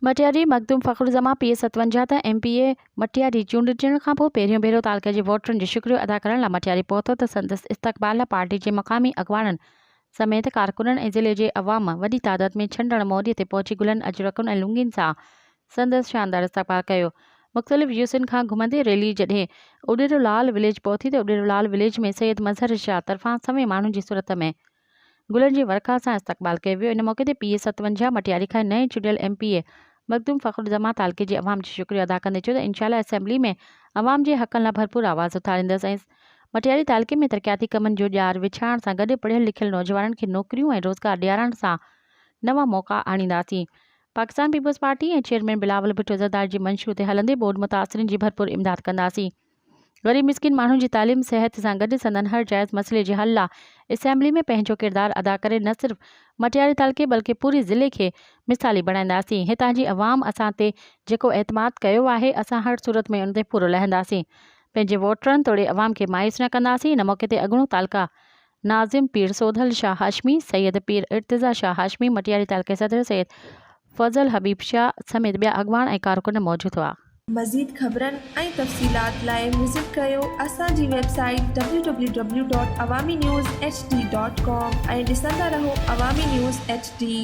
مٽياري، مخدوم فخرالزمان پير ستونجهه ته M P A Matiari چونڊجڻ کانپوء پهريون ڀيرو تعلقي جي ووٽرن جو شڪريو ادا ڪرڻ لاء مٽياري پهتو ته سندس استقبال لاء پارٽي جي مقامي اڳواڻن سميت ڪارڪنن ۽ ضلعي جي عوام وڏي تعداد ۾ ڇنڊڻ موڏي تي پهچي گلن اجرڪن ۽ لونگين سان سندس شاندار استقبال ڪيو. مختلف جيوسين کان گهمندي ريلي جڏهن اڏيرو لال وليج پهتي ته اڏيرو لال وليج ۾ سيد مظهر شاهه طرفان سوين ماڻهن جي صورت ۾ گلن جي ورکا سان استقبال ڪيو ويو ان موقعي تي پي اي ستونجهه مٽياري کان نئين چونڊيل M P A Makhdoom Fakhruzzaman تعلقي جي عوام جو شڪريو ادا ڪندي چيو ته انشاء الله اسيمبلي ۾ عوام جي حقن لا ڀرپور آواز اٿاريندس ۽ مٽياري تعلقي ۾ ترقياتي ڪمن جو ڄار وڇائڻ سان گڏ پڙهيل لکيل نوجوانن کي نوڪريون ۽ روزگار ڏيارڻ سان نوان موقعا آڻينداسين Pakistan Peoples Party ۽ chairman Bilawal Bhutto Zardari جي منشور تي هلندي ٻوڏ متاثرين جي ڀرپور امداد ڪنداسين. غريب مسڪين ماڻهن جي تعليم صحت سان گڏ سندن هر جائز مسئلي جي حل لا اسيمبلي ۾ پنهنجو ڪردار ادا ڪري نه صرف مٽياري تعلقي بلڪه پوري ضلعي کي مثالي بڻائينداسين هتان جي عوام اسان تي جيڪو اعتماد ڪيو آهي اسان هر صورت ۾ ان تي پورو لهنداسين پنهنجي ووٽرن توڙي عوام کي مايوس نه ڪنداسين ان موقعي تي اڳوڻو تعلقه ناظم پير سوڌل شاهه هاشمي، سيد پير ارتضيٰ شاهه هاشمي، مٽياري تعلقي صدر سيد فضل حبيب شاهه سميت ٻيا اڳواڻ ۽ ڪارڪن موجود هئا. مزيد خبرن ۽ تفصيلات لاء وزٽ ڪريو اسان جي website W W W dot Awami news H D dot com ۽ ڏسندا رهو عوامي نيوز ايڇ ڊي.